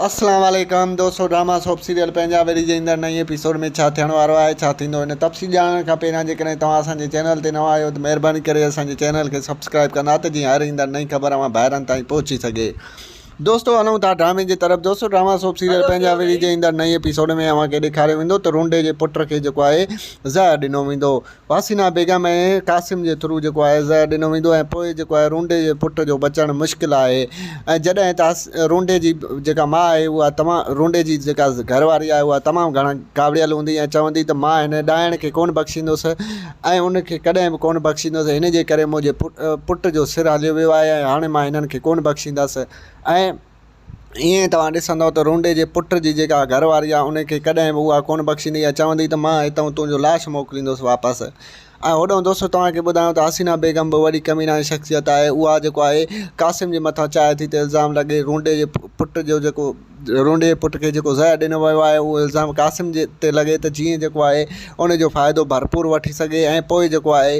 اسلام عليڪم دوستو ڊراما سوپ سيريل پنهنجا ويري جي ايندڙ نئين ايپيسوڊ ۾ ڇا ٿيڻ وارو آهي ڇا ٿيندو ان تفصيل ڄاڻڻ کان پهريان جيڪڏهن توهان اسان جي چينل تي نوان آهيو ته مهرباني ڪري اسان جي چينل کي سبسڪرائب ڪندا ته جيئن هر ايندڙ نئين خبر اوهان ڀائرن تائين پهچي سگهي دوستو هلون ٿا ڊرامي جي طرف دوستو ڊراما سوپ سيريل پنهنجا ويري جي ايندڙ نئين ايپيسوڊ ۾ اوهان کي ڏيکاريو ويندو ته رونڊي جي پٽ کي جيڪو آهي زهر ڏنو ويندو واسينا بيگم ۽ قاسم جي ٿرو جيڪو آهي زهر ڏنو ويندو ۽ پوء جيڪو آهي رونڊي جي پٽ جو بچڻ مشڪل آهي ۽ جڏهن ته رونڊي جي جيڪا ماء آهي اها تمام رونڊي جي جيڪا گهر واري آهي اها تمام گهڻا ڪاوڙيل هوندي ۽ چوندي ته مان هن ڏائڻ کي ڪونه بخشيندس ۽ ان کي ڪڏهن به ڪونه بخشيندس هن جي ڪري منهنجي پٽ جو سر هليو ويو آهي ۽ هاڻي مان هنن کي ڪونه بخشيندس ۽ ائين توهان ڏسندؤ ته رونڊي جي پٽ جي جيڪا گهر واري آهي ان کي ڪڏهن به اها ڪونه بخشيندي يا چوندي ته مان هتئون تنهنجو لاش موڪليندوس واپس ۽ هوڏهون دوستو توهان کي ٻڌايون ته حسينا بيگم به وڏي ڪمينائي شخصيت آهي اها جيڪو آهي قاسم جي مٿان چاهي ٿي ته الزام لڳي رونڊي جي پٽ جو جيڪو رونڊي جي پٽ کي جيڪو زهر ڏنو ويو آهي اهو الزام قاسم جي تي لڳي ته جيئن جيڪو آهي ان جو فائدو ڀرپور وٺي سگهي ۽ پوء جيڪو آهي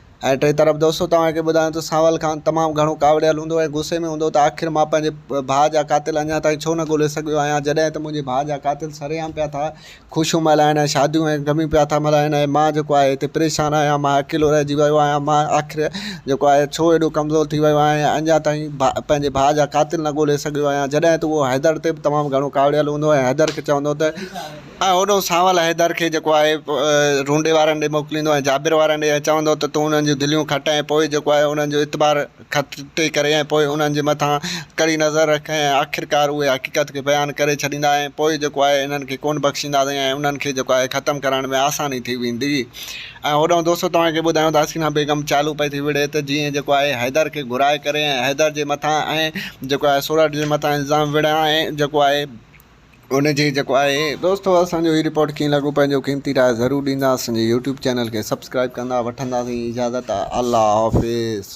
۽ ٽئين طرف دوستو توهان کي ٻڌايان ته سانول خان تمام گهڻو ڪاوڙيل هوندو ۽ غصي ۾ هوندو ته آخر مان پنهنجي ڀاء جا قاتل اڃا تائين ڇو نه ڳولي سگهيو آهيان جڏهن ته منهنجي ڀاء جا قاتل سرعام پيا ٿا خوشيون ملهائين ۽ شاديون ۽ غميون پيا ٿا ملهائين ۽ مان جيڪو آهي هتي پريشان آهيان مان اڪيلو رهجي ويو آهيان مان آخر جيڪو آهي ڇو ايڏو ڪمزور ٿي ويو آهيان ۽ اڃا تائين پنهنجي ڀاء جا قاتل نه ڳولي سگهيو آهيان جڏهن ته اهو حيدر تي به تمام گهڻو ڪاوڙيل هوندو ۽ حيدر کي چوندو ته ۽ هوڏانهن سانول حيدر کي جيڪو آهي رونڊي وارن ڏي موڪليندو ۽ جابر وارن ڏي ۽ چوندو ته تون انهن جون دليون کٽ ۽ پوء جيڪو آهي انهن جو اعتبار کٽي ڪري ۽ پوء انهن جي مٿان ڪڙي نظر رک ۽ آخرڪار اهي حقيقت کي بيان ڪري ڇڏيندا ۽ پوء جيڪو آهي انهن کي ڪونه بخشينداسين ۽ انهن کي جيڪو آهي ختم ڪرڻ ۾ آساني ٿي ويندي ۽ هوڏانهن دوستو توهان کي ٻڌايون ته حسينه بيگم چالو پئي ٿي وڙهي ته جيئن جيڪو آهي حيدر کي گهرائي ڪري ۽ حيدر جي مٿان ۽ جيڪو آهي سورٺ جي مٿان الزام وڙهان ۽ جيڪو آهي ان جي جيڪو آهي. دوستو اسان جو هي رپورٽ ڪيئن لڳو پنهنجو قيمتي راء ضرور ڏيندا اسان جي يوٽيوب چينل کي سبسڪرائب ڪندا وٺنداسين اجازت الله حافظ.